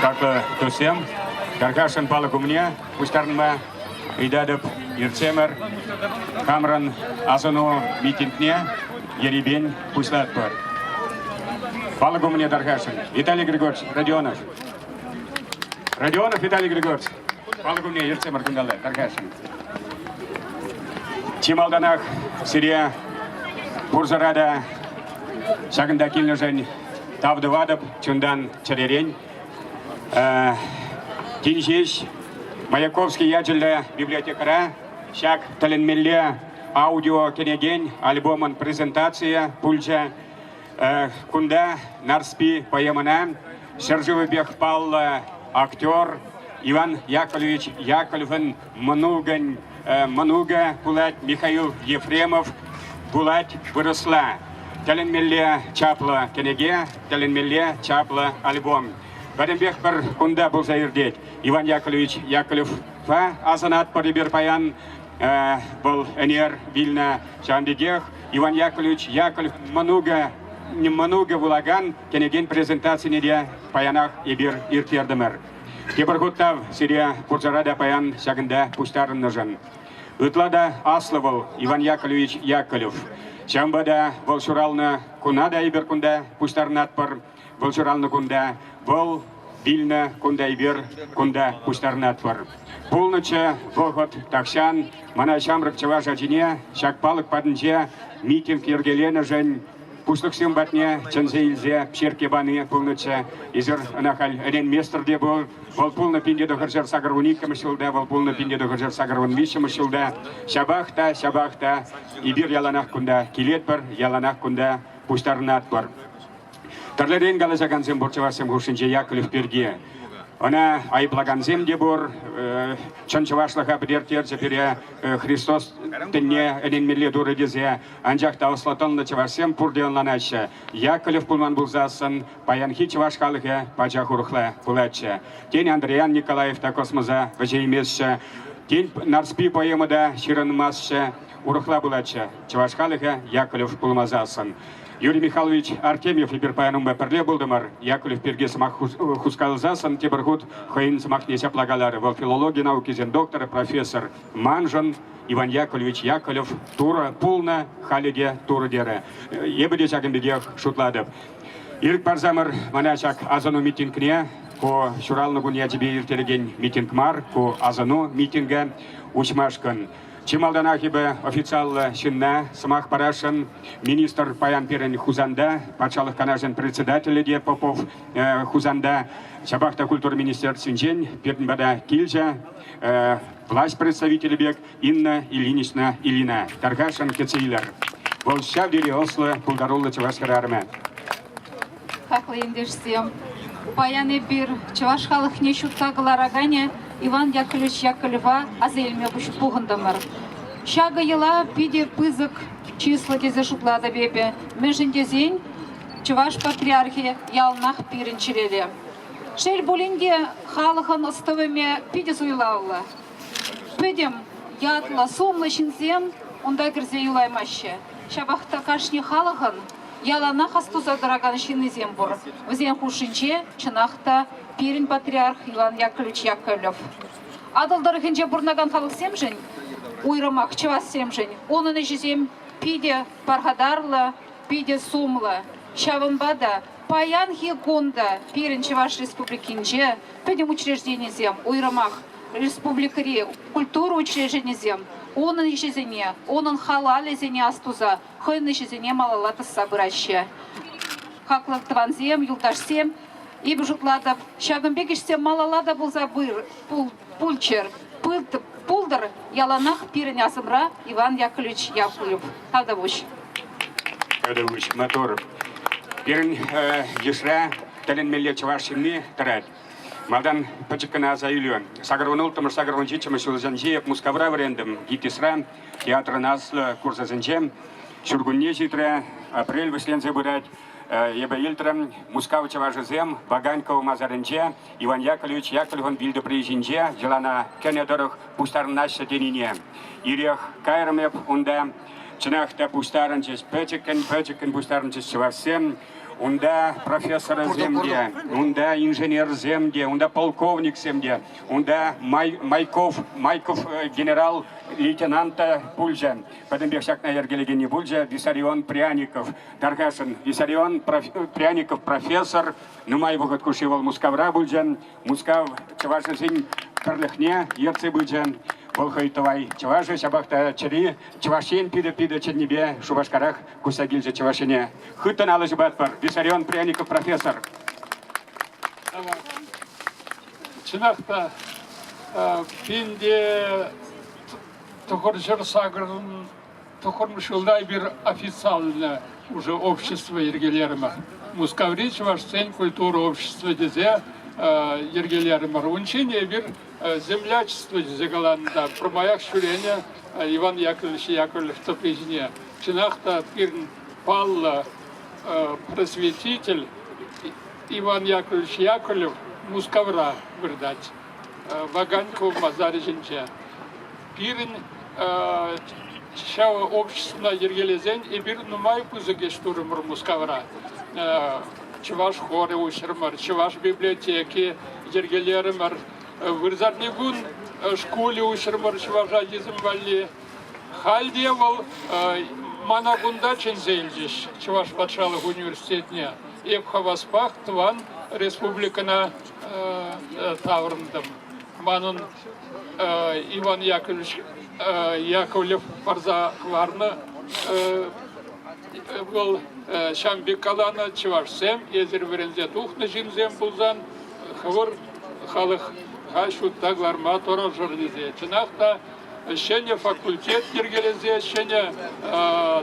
Хаклӑ друзьям, каркашӑн палӑк умне пуҫтарӑнма ыйтатӑп иртсемӗр хамӑрӑн асӑну митингне ерипен пуҫлатпӑр. Палӑк умне тархасшӑн Виталий Григорьевич Родионов. Родионов Виталий Григорьевич. Пал кунне ертсемӗр кунталла, тархасшӑн. Чи малтанах сире пурсӑра та ҫакӑнта килнӗшӗн тав тӑватӑп. Чунтан чӗререн. Тин ҫеҫ Маяковский ячӗллӗ библиотекӑра ҫак тӗлӗнмелле аудио кӗнекен альбомӑн презентацийӗ пулчӗ. Кунта Нарспи поэмӑна ҫӗршывӗпех паллӑ актер Иван Яковлевич Яковлевӑн мӑнукӗн мӑнукӗ пулать Михаил Ефремов пулать вырӑсла. Тӗлӗнмелле чаплӑ кӗнеке, тӗлӗнмелле чаплӑ альбом. Пӗтӗмпех пӗр кунта пулса иртет. Иван Яковлевич Яковлевпа асӑнатпӑр эпир паян. Вӑл ӗнер вилнӗ. Ҫавӑн пекех Иван Яковлевич Яковлев мӑнукӗ мӑнукӗ вулакан кӗнекен презентацине те паянах эпир ирттертӗмӗр. Тепӗр хутав сире курсара та паян ҫакӑнта пуҫтарӑннӑшӑн. Ытла та аслӑ вӑл Иван Яковлевич Яковлев. Ҫавӑнпа та вӑл ҫуралнӑ куна та эпир кунта пуҫтарӑнатпӑр. Вӑл ҫуралнӑ кунта, вӑл вилнӗ кунта эпир кунта пуҫтарӑнатпӑр. Пулнӑччӗ вӑхӑт тахҫан мана ҫамрӑк чӑваш ачине ҫак палӑк патӗнче митинг йӗркеленӗшӗн пуҫлӑхсем патне чӗнсе илсе черкке пани пулнӑччӗ. Эсир ӑна халь ӗненместӗр те пул. Вӑл пулнӑ пинте тӑхӑрҫӗр сакӑр вун иккӗмӗш ҫулта, вӑл пулнӑ пинте тӑхӑрҫӗр сакӑр вун виҫҫӗмӗш ҫулта. Ҫапах та, ҫапах та эпир яланах кунта килетпӗр, яланах кунта пуҫтарӑнатпӑр. Тӗрлӗрен калаҫакансем пур чӑвашсем хушшинче Яковлев пирки. Ӑна айӑплакансем те пур. Э, чӑн чӑвашлӑха пӗтертерчӗ пире э, Христос тӗнне ӗненмелле турӗ тесе. Анчах та ӑслӑ тӑнлӑ чӑвашсем пурте ӑнланаҫҫӗ. Яковлев пулман пулсассӑн паянхи чӑваш халӑхӗ пачах урӑхла пулатчӗ. Тен, Андриян Николаев та космоса вӗҫейместчӗ. Тен, Нарспи поэма та ҫырӑнмастчӗ. Урӑхла пулатчӗ. Чӑваш халӑхӗ Яковлев пулмасассӑн. Юрий Михайлович Артемьев эпир паян унпа пӗрле пултӑмӑр. Яковлев пирки сӑмах хускалсассӑн тепӗр хут хӑйӗн сӑмахне ҫапла каларӗ. Вӑл филологи наукисен докторӗ, профессор. Маншӑн Иван Яковлевич Яковлев Турӑ пулнӑ, халӗ те Турӑ терӗ. Эпӗ те ҫакӑн пекех шутлатӑп. Ирӗк парсамӑр мана ҫак асӑну митингне ку ҫуралнӑ кун ячӗпе ирттерекен митинг мар, ку асӑну митингӗ уҫмашкӑн Чи малтанах эпӗ официаллӑ ҫынна сӑмах парасшӑн. Министр паян пирӗн Хусанта, Патшалӑх Канашӗн председателӗ те Попов э, Хусанта, ҫапах та культура министерствинчен пирӗн пата килчӗ э, власть представителӗ пек Инна Ильинична Ильина. Тархасшӑн кӗтсе илер. Вӑл ҫав тери ӑслӑ, пултаруллӑ чӑваш хӗрарӑмӗ. хаклӑ ентешсем. Паян эпир чӑваш халӑхне ҫутта кӑлараканӗ Иван Яковлевич Яковлева аса илме пухӑнтӑмӑр. Ҫакӑ йӑла питӗ пысӑк чыслӑ тесе шутлатӑп эпӗ, мӗншӗн тесен Чӑваш патриархӗ яланах пирӗн чӗрере. Шел пулин те, халӑхӑн ӑс-тӑвӑмӗ питӗ суйлавлӑ. Пӗтӗм ятлӑ, сумлӑ ҫынсем унта кӗрсе юлаймаҫҫӗ. Ҫапах та кашни халӑхӑн Яланах астуса тӑракан ҫыннисем пур. Вӗсен хушшинче, чӑнах та, пирӗн патриарх Иван Яковлевич Яковлев. Атӑл тӑрӑхӗнче пурӑнакан халӑхсемшӗн, уйрӑмах чӑвашсемшӗн, унӑн ӗҫӗсем питӗ пархатарлӑ, питӗ сумлӑ. Ҫавӑнпа та паянхи кун та пирӗн Чӑваш Республикинче пӗтӗм учрежденисем, уйрӑмах республикӑри культура учрежденийӗсем унӑн ӗҫӗсене, унӑн халалӗсене астуса хӑйӗн ӗҫӗсене малалла тӑсса пыраҫҫӗ. Хаклӑ тӑвансем, юлташсем, эпӗ шутлатӑп, ҫакӑн пек ӗҫсем малалла та пулса пулччӑр, пултӑр яланах пирӗн асӑмра Иван Яковлевич Яковлев Татӑвуҫ. Татӑвуҫ Мотор. Пирӗн йышра тӗлӗнмелле чӑваш ҫынни тӑрать. Малтан пӗчӗк кӑна аса илӳ. Сакӑр вун улттӑмӗш, сакӑр вун ҫиччӗмӗш ҫулсенче Мускавра вӗрентӗм, ГИТИСра. Театрӑн аслӑ курсӗсенче ҫуркунне ҫитрӗ, апрель вӗҫленсе пырать. Эпӗ илтрӗм, Мускав чӑвашӗсем Ваганьков масарӗнче Иван Яковлевич Яковлевӑн вилтӑпри ҫинче йӑлана кӗнӗ тӑрӑх пуҫтарӑнаҫҫӗ тенине. Ирех кайрӑм эп унта. Чӑнах та пуҫтарӑнчӗҫ, пӗчӗккӗн-пӗчӗккӗн пуҫтарӑнчӗҫ чӑвашсем. унта профессорсем те, унта инженерсем те, унта полковниксем те, унта Май, Майков, Майков э, генерал лейтенанта пулчӗ, пӗтӗмпех ҫакна йӗркелекенни пулчӗ, Виссарион Пряников, Тархасӑн, Виссарион Пряников профессор, нумай вӑхӑт хушши вӑл Мускавра пулчӗ, Мускав чӑвашӗсен пӗрлӗхне ертсе пычӗ. Вӑл хӑй тӑвай чӑвашӗ, ҫапах та чӗри Чӑваш Ен питӗ-питӗ чӗннипе Шупашкарах куҫса килчӗ Чӑваш Ене. Хыттӑн алӑ ҫупатпӑр. Виссарион Пряников профессор. Чӑнах та, пинте тӑхӑрҫӑр сакӑрӑн тӑхӑрмӗш ҫулта эпир официально уже общество йӗркелерӗмӗр. Мускаври чӑвашсен культура общества тесе йӗркелерӗмӗр. Унччен эпир землячество тесе каланӑ та пӗрмаях ҫӳренӗ Иван Яковлевич Яковлев тӑпри ҫине. Чӑнах та пирӗн паллӑ просветитель Иван Яковлевич Яковлев Мускавра выртать, Ваганьков масарӗ ҫинче. Пирӗн ҫав обществӑна йӗркелесен эпир нумай пысӑк ӗҫ турӑмӑр Мускавра. Чӑваш хорӗ уҫрӑмӑр, Чӑваш библиотеки йӗркелерӗмӗр. Вырсарни кун шкулӗ уҫрӑмӑр чӑваша йӗсем валли. Халь те вӑл мана кунта чӗнсе илчӗҫ Чӑваш патшалӑх университетне. Эп хаваспах тӑван республикӑна таврӑнтӑм. Манӑн Иван Яковлевич Яковлев парса хӑварнӑ. Вӑл ҫам пек каланӑ, чӑвашсем эсир вӗренсе тухнӑ ҫынсем пулсан хӑвӑр халӑха ҫутта кӑларма тӑрӑшӑр тесе. Чӑнах та ҫӗнӗ факультет йӗркелесе, ҫӗнӗ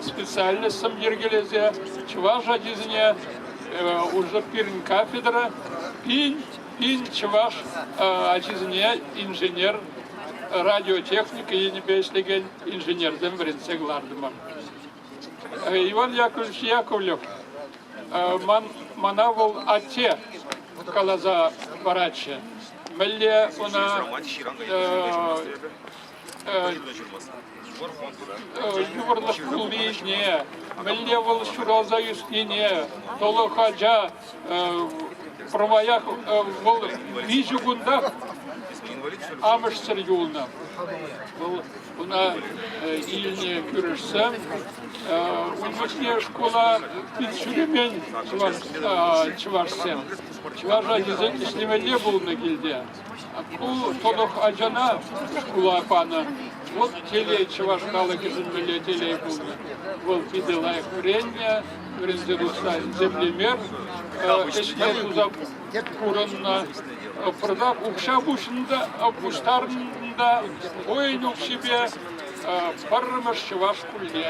специальноҫсем йӗркелесе чӑваш ачисене уже пирӗн кафедра пин Пин чӑваш ачисене инженер, радиотехника енӗпе ӗҫлекен инженерсем вӗрентсе кӑлартӑмӑр. Иван Яковлевич Яковлев, ман, мана вӑл атте каласа паратчӗ. Мӗнле ӑна Йывӑрлӑх пулнине, мӗнле вӑл ҫуралса ӳснине, тӑлӑх ача пӗрмаях вӑл виҫӗ кунтах амӑшсӑр юлнӑ. Вӑл ӑна илнӗ кӳршсем. Ун пуҫне шкула пит ҫӳремен чӑвашсем. Чӑваш ачисем ӗҫлемелле пулнӑ килте. Ку тӑлӑх ачана шкула панӑ. Вӑл телей чӑваш халӑхӗшӗн мӗнле телей пулнӑ. Вӑл питӗ лайӑх вӗреннӗ, вӗренсе тухса земле мер ӗҫне туса пурӑннӑ. Пӑртак укҫа пуҫӑннӑ пуҫтарнӑ та воин укҫипе пӗрремӗш чӑваш шкулне.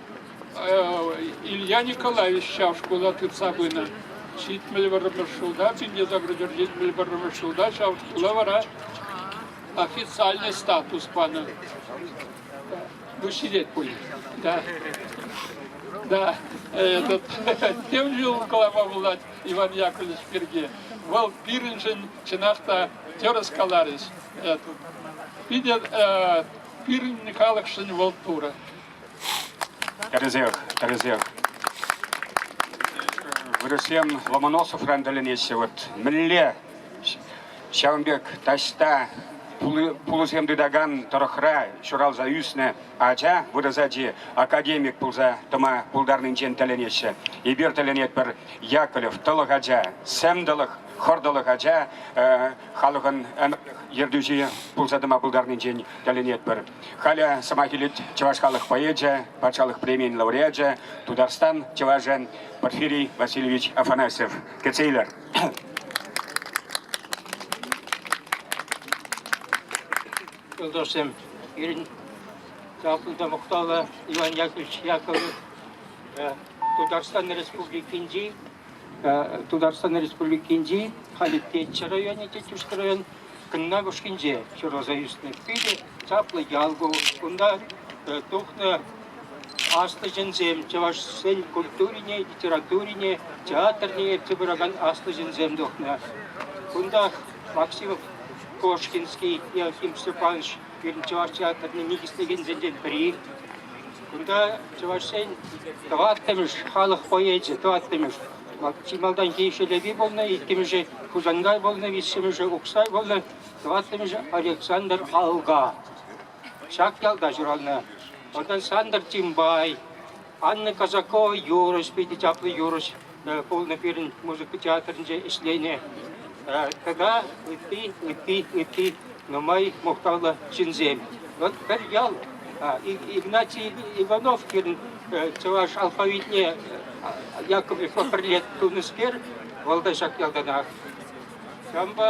Илья Николаевич ҫав шкула тытса пынӑ. Ҫитмӗл вӑрӑмӗш ҫулта, пинте заградер ҫитмӗл вӑрӑмӗш ҫулта ҫав шкула вара официальный статус панӑ. Ну, сидеть пуль. Да. Да, этот, тем же укӑлапа пулать Иван Яковлевич пирки. Вӑл пирӗншӗн чӑнах та тӗрӗс каларӗҫ. Питӗ пирӗн халӑхшӑн вӑл турӑ. Тӗрӗсех, тӗрӗсех. Вырӑссем Ломоносовран тӗлӗнеҫҫӗ. Вот мӗнле ҫавӑн пек таҫта пулӑсем тытакан тӑрӑхра ҫуралса ӳснӗ ача, вырӑс ачи академик пулса тӑма пултарнинчен тӗлӗнеҫҫӗ. Эпир тӗлӗнетпӗр Яковлев тӑлӑх ача, сӗм тӑлӑх, хӑр тӑлӑх ача халӑхӑн ӗмӗр ертӳҫи пулса тӑма пултарнинчен тӗлӗнетпӗр. Халӗ сӑмах илет чӑваш халӑх поэчӗ, патшалӑх премийӗн лауреачӗ, Тутарстан чӑвашӗ Порфирий Васильевич Афанасьев. Кӗтсе илер. Юлдашсем, пирӗн чаплӑ мухтавлӑ Иван Яковлевич Яковлев Тутарстан Республикинчи Тутарстан Республикинчи Халитеччӗ районӗнчи Тӳшкӗ район Кӑннакӑшкинче ҫуралса ӳснӗ питӗ чаплӑ ял ку. Унта тухнӑ аслӑ ҫынсем чӑвашсен культурине, литературине, театрне ертсе пыракан аслӑ ҫынсем тухнӑ. Кунтах Максим Кошкинский, Еохим Степанович пирӗн чӑваш театрне никӗслекенсенчен пӗри. Кунта Чӑваш Ен тӑваттӑмӗш халӑх поэчӗ, тӑваттӑмӗш. Чи малтанхи Шелепи пулнӑ, иккӗмӗшӗ Хусанкай пулнӑ, виҫҫӗмӗшӗ Уксай пулнӑ, тӑваттӑмӗшӗ Александр Алга. Ҫак ялта ҫуралнӑ. Вӑта Сандр Тимбай, Анна Казакова юрӑҫ, питӗ чаплӑ юрӑҫ пулнӑ пирӗн музыка театрӗнче ӗҫленӗ. Тата ытти, ытти, ытти нумай мухтавлӑ ҫынсем. Вот пӗр ял Игнатий Иванов пирӗн чӑваш алфавитне якобрифа пӗрле тунӑскер, вӑл та ҫак ялтанах. Ҫавӑнпа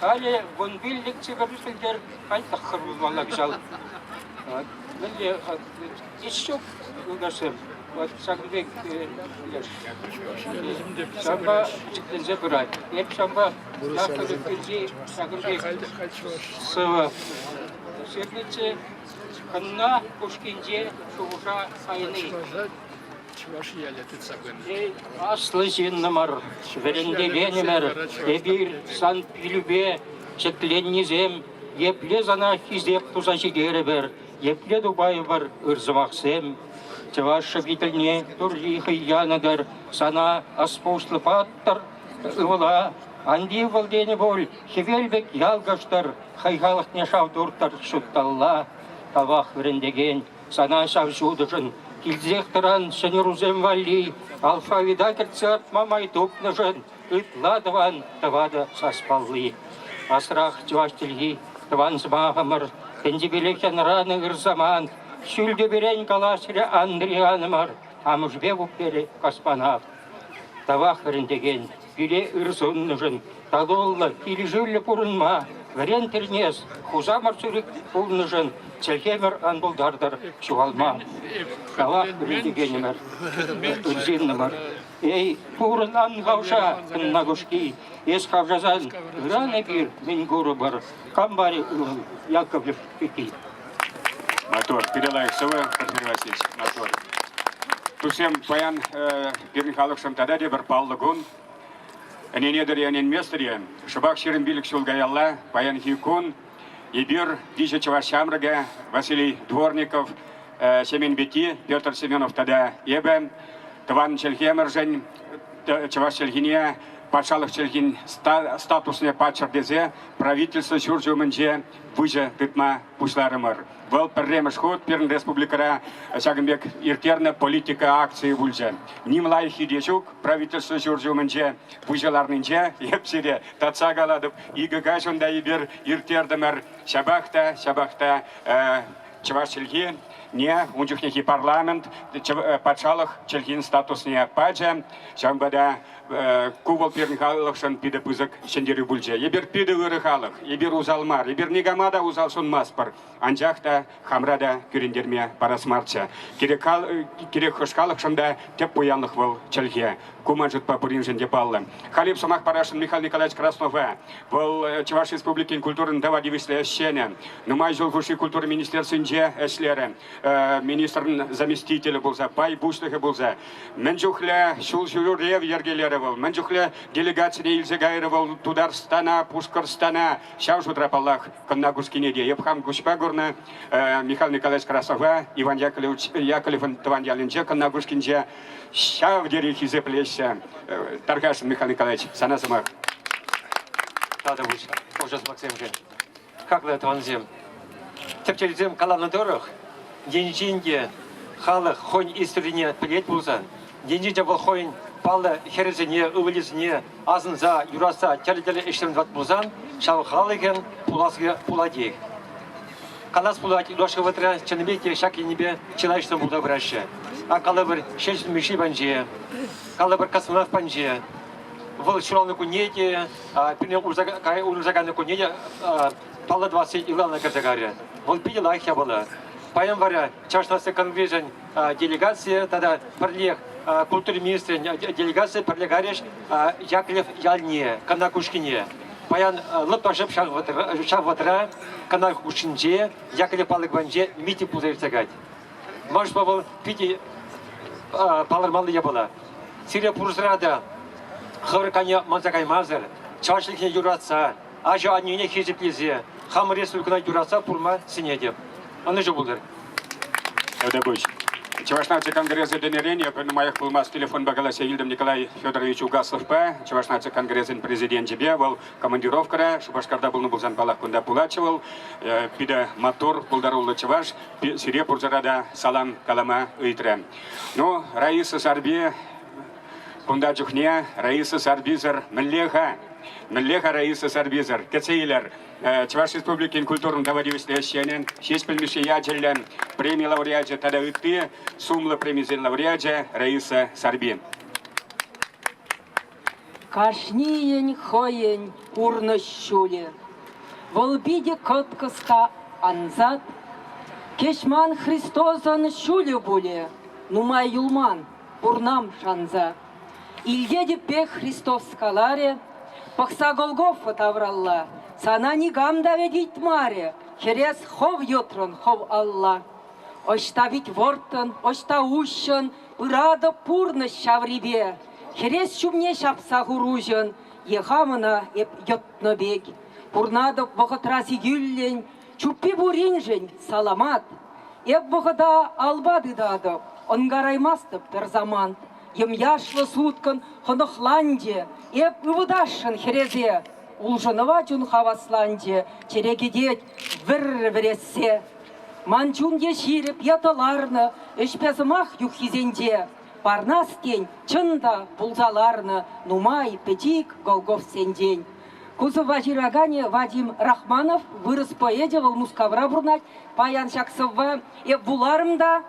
Халӗ вун пиллӗк чикӗрӳ сӗлтер хальтӑххӑр пулмалла кӑҫал. Мӗнле ҫук юлташсем? Вот ҫак пек ҫавӑнпа чикленсе пырать. Эп ҫавӑнпа Яков Кирки ҫакӑн сывӑ. Сергече кӑнна пушкинче шухӑша сайни. Чӑваш ялӗ тытса пынӑ. Эй, аслӑ ҫыннӑмӑр, вӗрентекенӗмӗр, эпир Сан-Пилӳпе ҫӗкленнисем, епле Сана хисеп туса ҫитерӗпӗр, епле тупайӑпӑр ыр сӑмахсем. Чӑваш шӗкӗтӗлне Турри хӑй янӑ-тӑр, Сана ӑспуслӑ паттӑр ывӑла ан тив вӑл тенӗ пуль, хӗвел пек ялкӑштӑр, хӑй халӑхне шав туртӑр ҫутталла. Тавах вӗрентекен. Сана ҫав ҫутӑшӑн килсех тӑран ҫӗнӗрусем валли алфавита кӗртсе артма май тупнӑшӑн ытла тӑван тӑватӑ саспалли. Асрах чӑваш чӗлхи, тӑван сӑмахӑмӑр, тӗнчипелех янӑранӑ ыр самант, ҫӳлтӳперен калаҫрӗ Андрей ханӑмӑр амӑшӗпе пупперӗ космонавт. Тавах вӗрентекен, пире ыр суннӑшӑн, татуллӑ, килӗшӳллӗ пурӑнма, вӗрен тӗлнес, хусамӑр сӳрӗк пулнӑшӑн чӗлхемӗр ан пултартӑр ҫухалма. Тавах вӗрентекенӗмӗр, ырсыннӑмӑр. Эй, пурӑн ан хавша, Нагушки, эс хавшасан ыран эпир мӗн курӑпӑр? Камбарь ывӑл Яковлев Натур, пире лайӑх сывӑ, Василий Васильевич, натур. Тусем, паян пирӗн халӑхшӑн тата тепӗр паллӑ кун. Ӗненетӗр-и, ӗненместӗр-и, шӑпах ҫирӗм пилӗк ҫул каялла, паянхи кун, эпир виҫӗ чӑваш ҫамрӑкӗ, Василий Дворников, Семен Пети, Петр Семенов тата эпӗ, тӑван чӗлхемӗршӗн, чӑваш чӗлхине, патшалӑх чӗлхин статусне паччӑр тесе правительство ҫурчӗ умӗнче выҫӑ тытма пуҫларӑмӑр. Вӑл пӗрремӗш хут пирӗн республикӑра ҫакӑн пек ирттернӗ политика акцийӗ пулчӗ. Ним лайӑххи те ҫук правительство ҫурчӗ умӗнче выҫӑ ларнинче. Эп сире татса калатӑп, икӗ каҫ унта эпир ирттертӗмӗр. Ҫапах та, ҫапах та чӑваш чӗлхи не ун чухнехи парламент патшалӑх чӗлхин статусне пачӗ. Ҫавӑнпа та Ку вӑл пирӗн халӑхшӑн питӗ пысӑк ҫӗнтерӳ пулчӗ. Эпир питӗ ырӑ халӑх, эпир усал мар, эпир никама та усал сунмастпӑр, анчах та хамра та кӳрентерме парас марччӗ. Кирек, хал, кирек хӑш халӑхшӑн та тӗп пуянлӑх вӑл чӗлхе. Ку ман шутпа пуриншӗн те паллӑ. Халип сӑмах парасшӑн Михаил Николаевич Краснова. Вӑл Чӑваш Республикин культурӑн тава тивӗҫлӗ ӗҫченӗ. Нумай ҫул хушши культура министерствинче ӗҫлерӗ. Министрӑн заместителӗ пулса, пай пуҫлӑхӗ пулса. Мӗн чухлӗ ҫул ҫӳрев йӗркелерӗ вӑл, мӗн чухлӗ делегацине илсе кайрӗ вӑл Тутарстана, Пушкӑртстана. Ҫав шутра, паллах, Кӑнна-Кускине те. Эп хам куҫпа курнӑ Михаил Николаевич Красова Иван Яковлевӑн тӑван ялӗнче, Кӑнна-Кускинче. Ҫав тери хисеплеҫҫӗ. Тархас, Михаил Николаевич, сана сӑмах. Татӑвӑш, ӑшӑ спортсменсем. Как вы, тӑвансем, тӗпчевҫӗсем каланӑ тӑрӑх, енчен те халӑх хӑйӗн историне пӗлет пулсан, енчен те вӑл хӑйӗн паллӑ хӗрӗсене, ывӑлӗсене асӑнса, юратса тӗрлӗ-тӗрлӗ ӗҫсем тӑвать пулсан, ҫав халӑхӑн пуласлӑхӗ пулатех. Калас пулать, юлашки вӑхӑтра чӑннипе те ҫак енӗпе чылайӑшсем пулса пыраҫҫӗ. Ак калӑпӑр, Ҫеҫӗл Мишши панче, калӑпӑр, космонавт панче, вӑл ҫуралнӑкунне те, пӳрне урӑлшаканнӑкунне те паллӑ тӑвасси ылалана кӗрсе карӗ. Вӑл питӗ лайӑх япала. Паян вара Чӑваш наци конгресӗн делегацийӗ тата пӗрлех культура министрӗн делегацийӗ пӗрле карӗҫ Яковлев ялне, Кана Кушкине. Паян лӑппа шӑп ҫав вӑтӑра Кана хушшинче, Яковлев палӑкӗнче митинг пулса иртсе кать. Мӑшпа вӑл питӗ палӑрмалли япала. Сире пурсӑра та хӑвӑр кайне манса каймасӑр, чашлӑхне юратса, ача-аннене хисеплесе, хамӑр республикӑна юратса пурма сӗнетӗп. Ӑнӑҫу пултӑр. Эдепуҫ, Чӑваш наци конгресӗ пынӑрен эпӗ нумаях пулмасть телефонпа калаҫса илтӗм Николай Федорович Угасловпа. Чӑваш наци конгресӗн президенчӗпе вӑл командировкӑра Шупашкарта пулнӑ пулсан паллах кунта пулатчӗ вӑл. Питӗ маттур, пултаруллӑ чӑваш. сире пурсӑра та салам калама ыйтрӗ. Ну, Раиса Сарпи кунта чухне Раиса Сарписӗр мӗнле-ха? Мӗнле-ха Раиса Сарписӗр? Кӗтсе илер. Чӑваш Республикин культурӑн товарищественнӑй ӗҫченӗн ҫеҫ пӗлмӗше ячӗллӗ преми лауреачӗ тата ытти сумлӑ премисен лауреачӗ Раиса Сарпи. Кашнийӗн хӑйӗн пурнӑҫ ҫулӗ. Вӑл питӗ кӑткӑс та ансат. Кӗҫман Христосӑн ҫулӗ пулӗ. Нумай юлман пурнам шанса. Илтетӗппе Христос каларӗ, пӑхса Голгофа тавралла. Сана никам та вӗт ыйтмарӗ, хӗрес хӑв йӑтрӑн хӑв алла. Ӑҫта пит вӑрттӑн, ӑҫта уҫҫӑн, Ыратӑп пурнӑҫ ҫаврипе, хӗрес ҫумне ҫапса хуруҫӑн е хамӑна эп йӑтнӑ пек. Пурнатӑп вӑхӑтра сикӳллӗн, чуппи пуриншӗн саламат. Эп вӑхӑта алпа тытатӑп, ӑнкараймастӑп пӗр самант. Йӑмьяшлӑ суткӑн хӑнӑхланчӗ эп ывӑтасшӑн хӗресе. Улшӑнӑва чун хавасланчӗ, чӗре кӗтет вӗр вӗрессе. Ман чун е ҫирӗп, ятӑларнӑ ӗҫпе сӑмах юххисенче Парнас тен, чӑн та, пулса ларнӑ нумай пӗчик Голговсенчен. Кузова ҫыраканӗ Вадим Рахманов, вырӑс поэчӗ, вӑл Мускавра пурӑнать. Паян ҫак сӑвва эп вуларӑм та,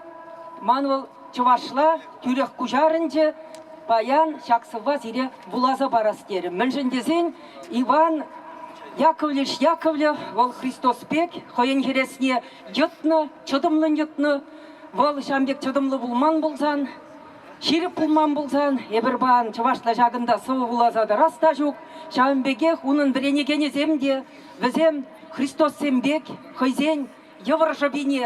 ман вӑл чӑвашла тӳрех куҫарӑнчӗ. Паян ҫак сӑвва сире вуласа парас терӗм. Мӗншӗн тесен Иван Яковлевич Яковлев вӑл Христос пек хӑйӗн хӗресне йӑтнӑ, чӑтӑмлӑн йӑтнӑ. Вӑл ҫан пек чӑтӑмлӑ пулман пулсан, ҫирӗп пулман пулсан, эпир пан чӑвашла ҫакӑнта сӑвӑ вуласа тӑрас та ҫук. Ҫавӑн пекех унӑн вӗренекенӗсем те, вӗсем Христоссем пек хӑйсен йывӑр шӑпине,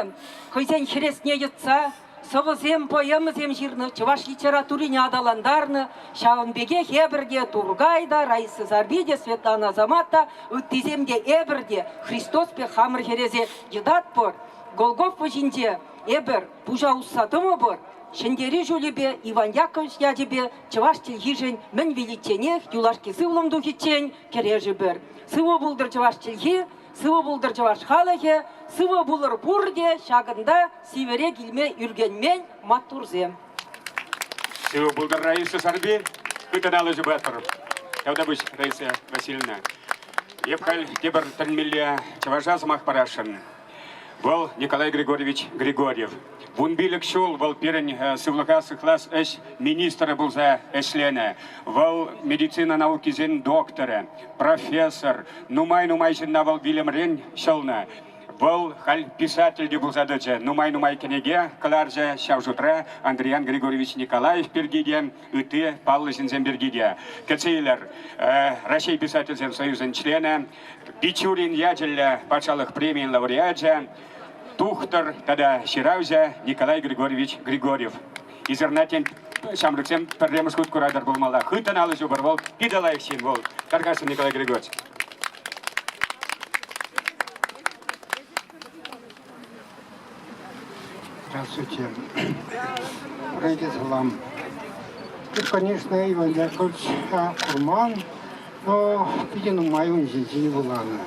хӑйсен хӗресне йӑтса сӑвӑсем, поэмӑсем ҫырнӑ, чӑваш литературине аталантарнӑ. Ҫавӑн пекех эпӗр те, Туркай та, Раиса Сарпи те, Светлана Азамат та, ыттисем те, эпӗр те Христос пек хамӑр хӗресе йӑтатпӑр. Голгофа ҫинче эпӗр пуҫа усса тӑмӑпӑр. Ҫӗнтерӳ ҫулӗпе, Иван Яковлевич ячӗпе чӑваш чӗлхишӗн мӗн виличченех юлашки сывлӑм тухиччен кӗрешӗпӗр. Сывӑ пултӑр чӑваш чӗлхи! Сывӑ пултӑр чӑваш халӑхӗ, сывӑ пулӑр пурте, ҫакӑнта сивӗре килме ӳркенмен маттурсем. Сывӑ пултӑр, Раиса Сарби! Хытӑ алӑ ҫупатӑр, Тавтапуҫ, Раиса Васильевна. Эп халь тепӗр тӗлӗнмелле чӑваша сӑмах парасшӑн. Вӑл, Николай Григорьевич Григорьев. Вун пилӗк ҫул вӑл пирӗн сывлӑха сыхлас ӗҫ министрӗ пулса ӗҫленӗ. Вӑл медицина наукисен докторӗ, профессор. Нумай-нумай ҫынна вӑл вилӗмрен ҫӑлнӑ. Вӑл халь писатель те пулса тӑчӗ. Нумай-нумай кӗнеке кӑларчӗ ҫав шутра Андриян Григорьевич Николаев пирки те, ытти паллӑ ҫынсем пирки те. Кӗтсе илер, Раҫҫей Писательсен союзӗн членӗ, Бичурин ячӗллӗ патшалӑх премийӗн лауреачӗ, тухтӑр тата ҫыравҫӑ Николай Григорьевич Григорьев. Ӳсӗрнатен ҫамрӑксем пӗрремӗш хут куратӑр пулмалла. Хыттӑн алӑ ҫупӑр вӑл питӗ лайӑх ҫын вӑл. Тархасшӑн, Николай Григорьевич. Здравствуйте. Рейде салам. Ты, конечно, Иван Шольчика курман, но питӗ нумай ун ҫинчен вуланӑ.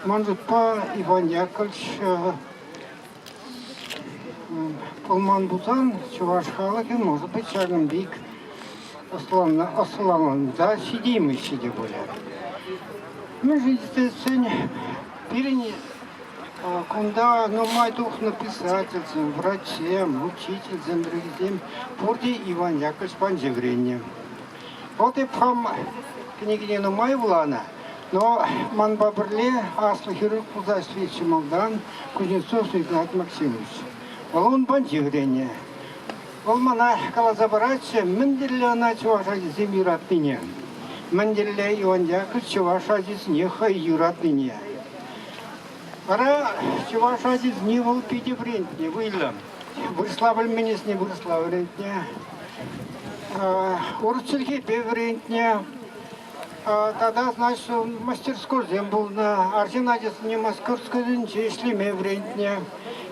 Ман шутпа Иван Яковлевич пулман пулсан чӑваш халӑхӗ может быть ҫакӑн пек ӑсланса ҫитеймеҫҫӗ те пулӗ. Мӗншӗн тесен Пирӗн кунта нумай тухнӑ писательсем, врачсем, учительсем, друзьясем пурте Иван Яковлевич панчи вӗреннӗ. Вӑл эп хам кӗнекене нумай вуланӑ, но манпа пӗрле аслӑ хирург пулса ӗҫлетчӗ малтан Кузнецов Игнат Максимович. Вӑл ун панчи вӗреннӗ. Вӑл мана каласа паратчӗ, мӗнле ӑна чӑваш ачисем юратнине, мӗнле Иондяков чӑваш ачисене хӑй юратнине. Вара чӑваш ачисене вӑл питӗ вӗрентнӗ, вӑйлӑ. Вырӑсла пӗлменнисене вырӑсла вӗрентнӗ. Урӑх чӗлхепе вӗрентнӗ. Тата, значит, мастерскойсем пулнӑ. Арҫын ачасене Московскосенче ӗҫлеме вӗрентнӗ.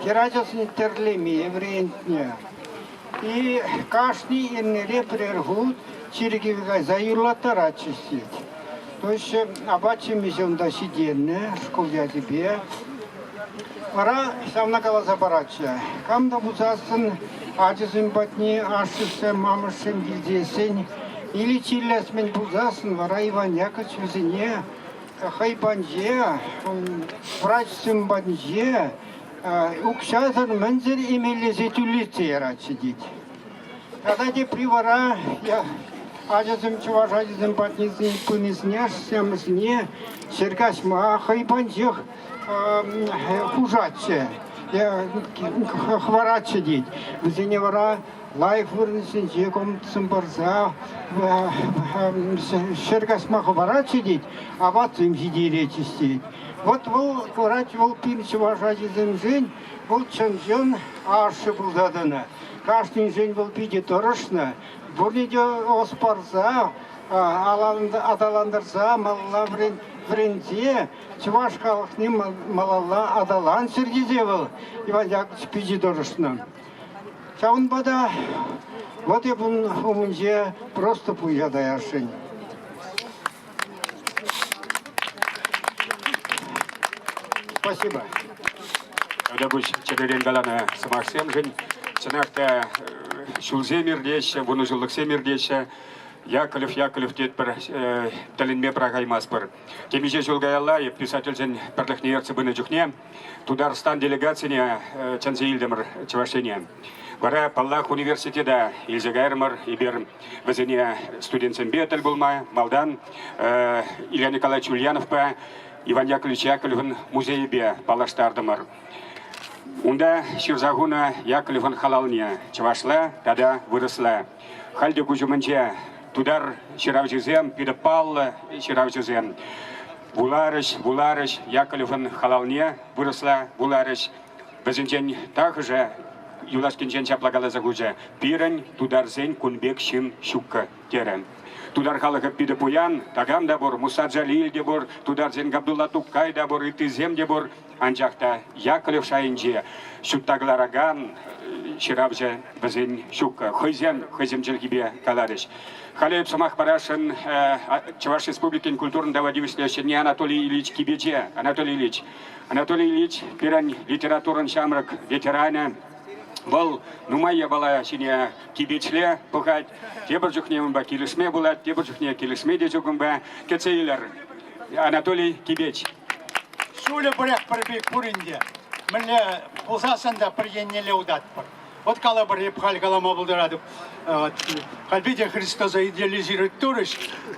Хӗр ачасене тӗрлеме вӗрентнӗ. И кашни эрнере пӗр хут чиркӗве кайса юрлаттаратчӗҫ тет. То есть апат ҫимӗҫ унта ҫитӗннӗ шкул ячӗпе. Вара ҫавна каласа паратчӗ. Кам та пулсассӑн ачасем патне ашшӗшсем, амӑшсем килсессен или чирлес мӗн пулсассӑн вара Иван Яковлевич вӗсене хӑй патӗнче, врачсем патӗнче укҫасӑр мӗнсӗр эмеллесе тӳрлетсе яратчӗ тет. Тата тепри вара ачасем чӑваш ачисем пынисене, ҫемӗсне ҫӗр каҫма хӑйпанчӑх хушатчӗ, хӑваратчӗ тет. Вӗсене вара лайӑх вырӑнсенче комтсем парса ҫӗр каҫма хӑваратчӗ тет, апатсем ҫитеретчӗҫ тет. Вот вӑл, курать вӑл пин чӑваш ачисемшӗн Вӑл чӑн-чӑн ашшӗ пулса тӑнӑ. Кашниншен вӑл питӗ тӑрӑшнӑ. Пурне те ӑс парса, аталантарса малалла вӗренсе чӑваш халӑхне малалла аталанччӑр тесе вӑл Иван Яковлевич питӗ тӑрӑшнӑ. Ҫавӑнпа та вӑт эп ун умӗнче просто пуҫа таясшӑн. Спасибо. Ӑна пуҫ чӗререн каланӑ сӑмахсемшӗн чӑнах та ҫулсем иртеҫҫӗ, вунӑҫуллӑхсем иртеҫҫӗ. Яковлев, Яковлев тетпӗр, тӗлӗнме пӑрахаймастпӑр. Темиҫе ҫул каялла писательсен пӗрлӗхне ертсе пынӑ чухне Тутарстан делегацине чӗнсе илтӗмӗр Чӑваш Ене. Вара, паллах, университета илсе кайрӑмӑр. Эпир вӗсене студентсемпе тӗл пулма малтан Илья Николаевич Ульяновпа Иван Яковлевич Яковлевӑн музейӗпе паллаштартӑмӑр. Унта ҫырса хунӑ Яковлевӑн халалне чӑвашла тата вырӑсла Халь те куҫ умӗнче тутар ҫыравҫисем, питӗ паллӑ ҫыравҫӑсем вуларӗҫ, вуларӗҫ, Яковлевӑн халалне вырӑсла вуларӗҫ. Вӗсенчен тахӑшӗ юлашкинчен ҫапла каласа хучӗ: «Пирӗн, тутарсен, кун пек ҫын ҫуккӑ», терӗ. Тутар халӑхӗ питӗ пуян, такам та пур, Муса Джалиль те пур, тутарсен Габдулла Тукай та пур, ыттисем те пур. Анчах та Яковлев шайӗнче ҫутта кӑларакан ҫыравҫӑ вӗсен ҫук. Хӑйсем хӑйсем чӗлхипе каларӗҫ. Халӗ эп сӑмах парасшӑн Чӑваш Республикин культурӑн тава тивӗҫлӗ ҫӗнни Анатолий Ильич Кипече. Анатолий Ильич, Анатолий Ильич пирӗн литературӑн ҫамрӑк ветеранӗ. Вӑл нумай япала ҫине кипечле пӑхать, тепӗр чухне унпа килӗшме пулать, тепӗр чухне килӗшме те чухӑнпа кӗтсе илер. Анатолий Кибеч. Ҫулӗ пӗрех пӗр пек пурин те. Мӗнле пулсассӑн та пӗр еннелле утатпӑр. Вот калӑпӑр, эп халь калама пултаратӑп, халь питӗ Христоса идеализировать турӗҫ,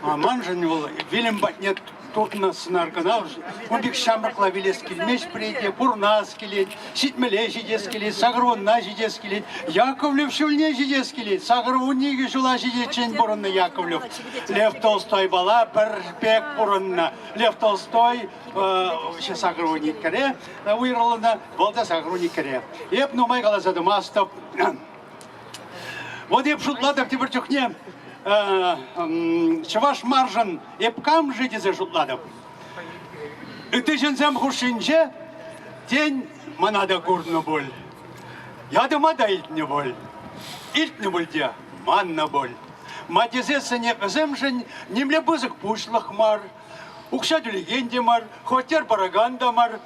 а маншӑн вӑл вилӗм патне туртнӑ сӑнар кӑна. Ун пек ҫамрӑкла вилес килмест прийте, пурнас килет, ҫитмеле ҫитес килет, сакӑрвунна ҫитес килет, Яковлев ҫулне ҫитес килет, сакӑрвунникӗ ҫула ҫитиччен пурӑннӑ Яковлев. Лев Толстойпала пӗр пек пурӑннӑ. Лев Толстой сакроникере уйрӑлнӑ, вӑл та сакроникере. Эп нумай каласа тӑмастӑп. Вот эп шутлатӑп тепӗр чухне чӑваш маршӑн эп кам-ши тесе шутлатӑп. Ытти ҫынсем хушшинче тен Мана та курнӑ пуль. Ятӑма та илтнӗ пуль. Илтнӗ пуль те, маннӑ пуль. Матисессӗнехӗсемшӗн нимле пысӑк пуҫлӑх мар. Укҫа тӳлекен те мар, хваттер паракан та мар.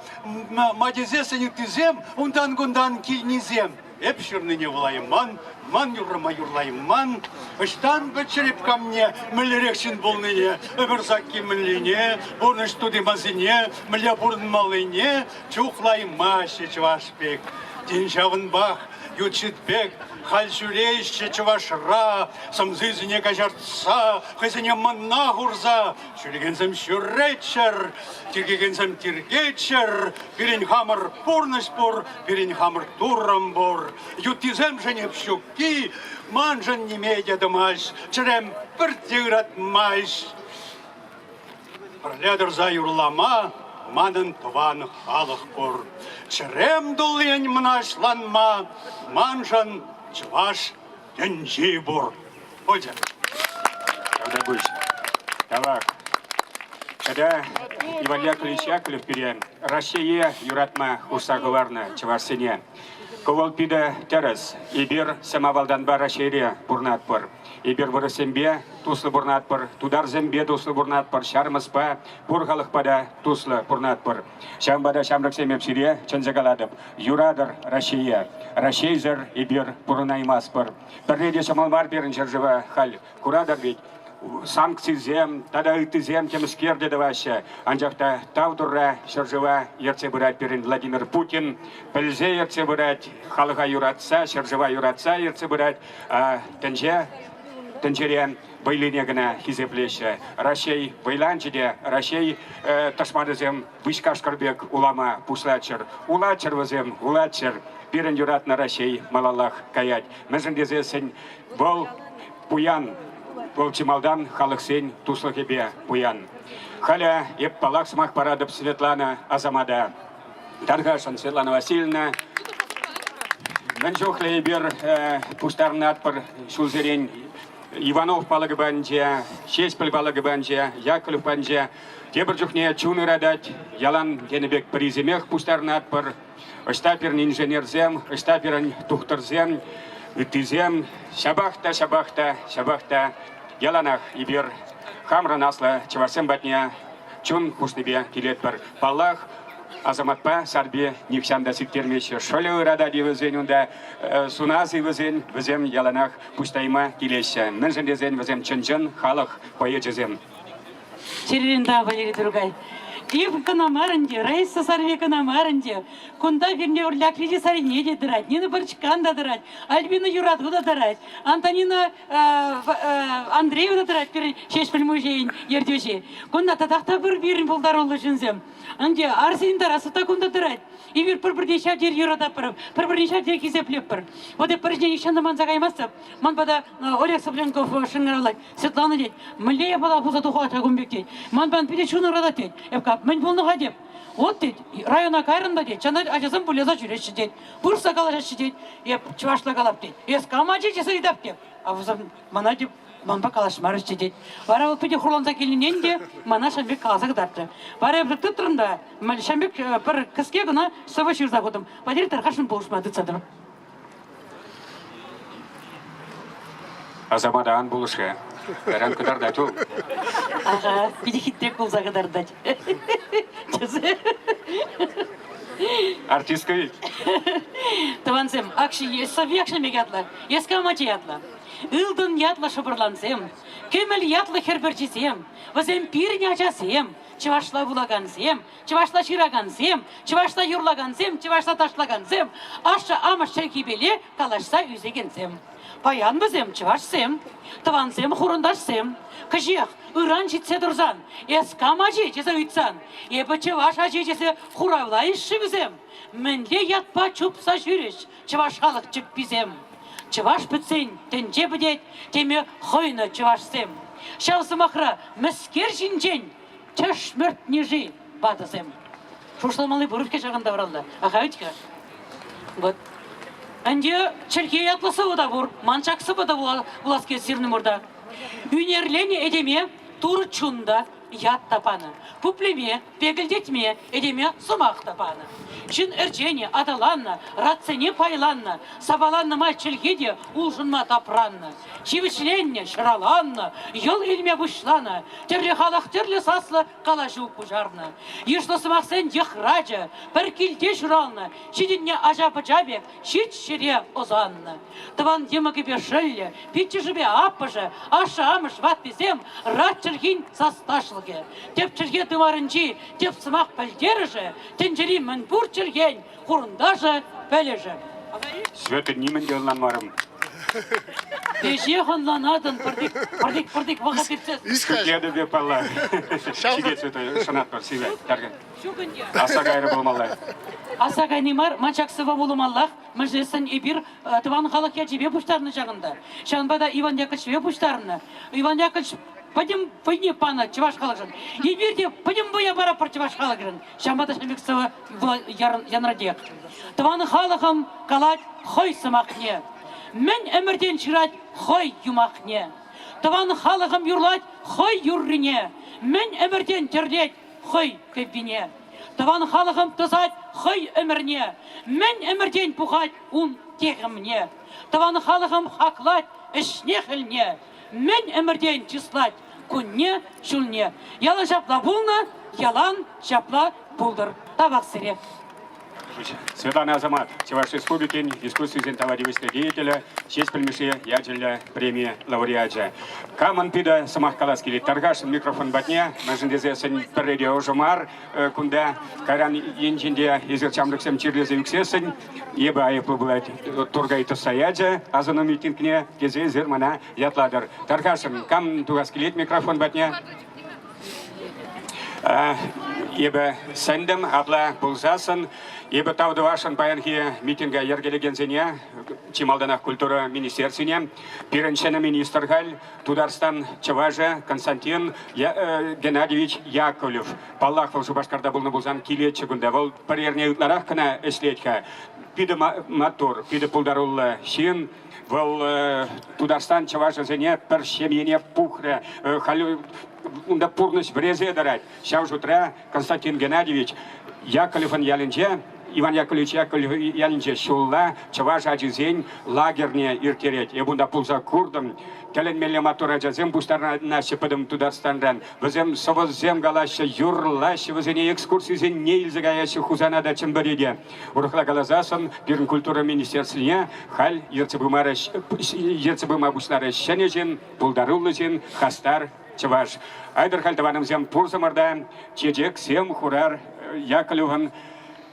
Матисессӗн ыттисем унтан-кунтан килнисем. Эп ҫырнине вулайман, ман юррӑма юрлайман. Ӑҫтан пӗл череп камне мӗнлерех ҫын пулнине, ӗмӗр сакки мӗнлине, пурнӑҫ тути-масине мӗнле пурӑнмаллине чухлаймаҫҫӗ чӑваш пек. Тин ҫавӑнпах ют ҫит пек халь ҫӳреҫҫӗ чӑвашра, сӑмсисене каҫартса, хӑйсене мӑнна хурса Чиркекенсем ҫӳреччӗр, тиркекенсем тиркеччӗр, пирӗн хамӑр пурнӑҫ пур, пирӗн хамӑр Туррӑм пур. Юттисемшӗн эп ҫукки маншӑн ниме те тӑмасть, чӗрем пӗрте ыратмасть. Пӗрле тӑрса юрлама манӑн тӑван халӑх пур. Чӗрем туллин мӑнаҫланма маншӑн чӑваш Тӗнчи пур. Путин. Когда пусть. Давай. Когда Иван Яковлевич Яковлев пире Россие юратма хушса кӑларнӑ чӑвашсене. Кӑвӑл питӗ тӗрӗс. Эпир самавалданпа Раҫҫейре пурӑнатпӑр. Эпир вырӑссемпе туслӑ пурӑнатпӑр, тутарсемпе туслӑ пурӑнатпӑр, ҫармӑспа, пур халӑхпа та туслӑ пурӑнатпӑр. Ҫавӑнпа та ҫамрӑксем эп сире чӗнсе калатӑп. Юратӑр Раҫҫее, Раҫҫейсӗр эпир пурӑнаймастпӑр. Пӗрре те ҫӑмӑл мар пирӗн ҫӗршыва халь. Куратӑр ведь, санкцисем тата ыттисем темӗскер те тӑваҫҫӗ. Анчах та тав Турра ҫӗршыва ертсе пырать пирӗн Владимир Путин. Пӗлсе ертсе пырать, халӑха юратса, ҫӗршыва юратса ертсе пырать. А, тӗнче тӗнчере вӑйлине кӑна хисеплеҫҫӗ. Раҫҫей вӑйланчӗ те, Раҫҫей э, тӑшманӗсем Выҫкашкӑр пек улама пуҫлаччӑр. Улаччӑр вӗсем, улаччӑр. Пирӗн юратнӑ Раҫҫей малаллах каять. Мӗншӗн тесессӗн вӑл пуян. Вӑл чи малтан халӑхсен туслӑхӗпе пуян. Халӗ эп паллах сӑмах паратӑп Светлана Асамата. Тархасшӑн, Светлана Васильевна. Мӗн чухлӗ эпир э, пуҫтарӑнатпӑр ҫулсерен Иванов палӑкӗ патӗнче, Ҫеҫпӗл палӑкӗ патӗнче, Яковлев патӗнче Тепӗр чухне чун ыратать, ялан тенӗ пек пӗрисемех пуҫтарӑнатпӑр. Ӑҫта пирӗн инженерсем, ӑҫта пирӗн тухтӑрсем, ыттисем, ҫапах та, ҫапах та, ҫапах та яланах эпир хамӑрӑн аслӑ чӑвашсем патне чун хушнипе килетпӗр. Паллах, Асаматпа Сарпи нихҫан та сиктермеҫҫӗ. Шӑлӗ ыратать-и вӗсен унта, сунас-и вӗсен, вӗсем яланах пуҫтайма килеҫҫӗ. Мӗншӗн тесен вӗсем чӑн-чӑн халӑх поэчӗсем. Червинда Валерий Дургай. Клип кӑна мар ӗнтӗ, Раиса Сарве кӑна мар ӗнтӗ. Кунта пирне урля кредит сарине те тӑрать, Нина Пырчкан та тӑрать, Альбина Юрату та тӑрать, Антонина Андреева та тӑрать пирӗн Ҫеҫпӗл музейӗн ертӳҫи. Кунта татах та пӗр пирӗн пултаруллӑ ҫынсем. Ӗнтӗ Арсен Тарасов та кунта тӑрать. Эпир пӗр-пӗрне ҫав тери юрататпӑр, пӗр-пӗрне ҫав тери хисеплетпӗр. Вот эп пӗринчен ҫынна манса каймастӑп. Ман пата Олег Сопленков шӑнкӑравлать. Светлана тет, мӗнле япала пулса тухать ҫакун пек тет. Манпан питӗ чун ыратать тет. Эп как мӗн пулнӑ-ха тет. Вот тет, района кайрӑн та тет, чана ачасем вылеза ҫӳреҫҫӗ тет, пырса калаҫаҫҫӗ тет, эп чӑвашла калап тет, эс кам ачи тесе ыйтап тет. А вӗсем мана теп манпа калаҫмарӗччӗ тет. Вара вӑл питӗ хурланса килнӗнен те мана ҫам пек каласа кӑтартрӗ. Вара эпӗ тытрӑм та, ман ҫам пек пӗр кӗске кӑна сӑвӑ ҫырса хутӑм. Патир тархашшӑн пулӑшма тытса тӑрӑп. Асамата ан пулӑш-ха. Таран кӑтартать вӑл. Ага, питӗ хитрек пулса кӑтартать. Тӗсӗ. Артистка вилт. Тӑвансем, акши Сави Акшемек ятлӑ, Ескалмачи ятлӑ, Ылтӑн ятлӑ шӑпӑрлансем, Кӗмӗл ятлӑ хӗр пӗрчисем, вӗсем пирӗн ачасем, чӑвашла вулакансем, Чӑвашла ҫыракансем, чӑвашла юрлакансем, чӑвашла ташлакансем, ашшӗ-амӑш чӗлхипеле калаҫса ӳсекенсем. Паян вӗсем чӑвашсем, тӑвансем хурӑнташсем. Кӗҫех ыран ҫитсе турсан, эс кам ачи тесе ыйтсан, эпӗ чӑваш ачи тесе хуравлайӑш-ши вӗсем? Мӗнле ятпа чупса ҫӳрӗҫ чӑваш халӑх чӗпписем? Чӑваш пӗтсен тӗнче пӗтет, теме хӑйнӑ чӑвашсем. Ҫав сӑмахра мӗскер ҫинчен Тӗшмӗртнӗ-ши ватӑсем? Шухӑшламалли пур-ҫке ҫакӑн тавралла. Ахать-ха. Вот. Ӗнтӗ чӗлхе ятлӑ сӑвӑ та пур, ман ҫак сӑвӑ та вуласкер сирнӑмӑрта. Ӳнерленӗ этеме турӑ чун та, ят та панӑ. Пуплеме, пекӗлтетме этеме сӑмах та панӑ. Ҫын ӗрченӗ, аталаннӑ, ратсене пайланнӑ, сапаланнӑ май чӗлхе те улшӑнма тапраннӑ. Ҫивӗчленнӗ, ҫӑраланнӑ, йӑл илме пуҫланӑ. Тӗрлӗ халӑх тӗрлӗ саслӑ калаҫу пуҫарнӑ. Йышлӑ сӑмахсен йӑхрачӗ пӗр килте ҫуралнӑ, ҫитӗннӗ ача-пӑча пек ҫич ҫӗре ӑсаннӑ. Тӑван йӑмӑкӗпе шӑллӗ, пиччӗшӗпе аппӑшӗ, ашшӗ-амӑш, ваттисем рат чӗлхин састашлӑхӗ, тӗп чӗлхе тымарӗнчи тӗп сӑмах пӗлтерӗшӗ, тӗнчери мӗн пур чӗлхен Хурӑнташӗ, пӗлӗшӗ. Света нимӗн те ӑнланмарӑм. Веҫех ӑнланатӑн пӗртик пӗртик пӗртик вӑхӑт иртсе. Ҫитетӗпе палла. Ҫитет Света, шанатпӑр сире. Тәркӗ. Чукӑнья. Аса кайрӗ пулмалла. Аса кайни мар, ман ҫак сӑвва вулӑмаллах, мӗншӗнсен эпир э, тӑван халӑх ячӗпе пуҫтарнӑ ҫакӑнта. Ҫавӑнпа та Иван Яковлевичпе пуҫтарнӑ. Иван Яковлевич пӗтӗм вӑйне панӑ чӑваш халӑхшӑн. Эпир те пӗтӗм вӑя паратпӑр чӑваш халӑхшӑн. ҫавӑнпа та ӗмӗт сывӑ янрӑтех. Тӑван халӑхӑм калать хӑй сӑмахне. Мӗн ӗмӗртен ҫырать хӑй юмахне. Тӑван халӑхӑм юрлать хӑй юррине. Мӗн ӗмӗртен тӗрлет хӑй кӗввине. Тӑван халӑхӑм тӑсать хӑй ӗмӗрне. Мӗн ӗмӗртен пухать ун техӗмне. Тӑван халӑхӑм хаклать ӗҫне-хӗлне. Мӗн ӗмӗртен чыслать кунне-ҫулне. Ялӑн ҫапла пулнӑ, ялан ҫапла пултӑр тавахсӗрех. Светлана Асамат, Чӑваш Республикин дискуссисен тава тивӗҫлӗ деятелӗ, честь пӗлмӗше ячӗллӗ преми лауреачӗ. Камӑн питӗ сӑмах калас килет, тархасшӑн микрофон патне, мӗншӗн тесессӗн пӗрре те ӑшӑ мар кунта. Кайран енчен те эсир ҫамрӑксем чирлесе ӳксессӗн Эпӗ айӑплӑ пулать, Туркай тӑсса ячӗ асӑну митингне, тесе эсир мана ятлатӑр. Тархасшӑн, кам тухас килет микрофон патне? Эпӗ сӗнтӗм апла пулсассӑн эпӗ тав тӑвасшӑн паянхи митинга йӗркелекенсене, чи малтанах культура министерствине. Пирӗн ҫӗнӗ министр халь Тутарстан чӑвашӗ Константин Геннадьевич Яковлев. Паллах, вӑл Шупашкарта пулнӑ пулсан килетчӗ кунта. Вӑл пӗр эрне ытларах кӑна ӗҫлет-ха. Питӗ маттур, питӗ пултаруллӑ ҫын. Вӑл Тутарстан чӑвашӗсене пӗр ҫемьене пухрӗ. Халь унта пурнӑҫ вӗресе тӑрать. Ҫав шутра Константин Геннадьевич Яковлевӑн ялӗнче Иван Яковлевич Яковлев ялӗнче ҫулла чӑваш ачисен лагерьне ирттерет. Эп унта пулса куртӑм. Тӗлӗнмелле маттур ачасем пуҫтарӑнаҫҫӗ пӗтӗм Тутарстанран. Вӗсем сӑвӑсем калаҫҫӗ, юрлаҫҫӗ, вӗсене экскурсисене илсе каяҫҫӗ Хусана та Чӗмпӗре те. Урӑхла каласассӑн пирӗн культура министерствине халь ертсе пыма, ертсе пыма пуҫларӗ ҫӗнӗ ҫын, пултаруллӑ ҫын, хастар чӑваш. Айтӑр халь тӑванӑмсем пурсӑмӑр та чечексем хурар Яковлевӑн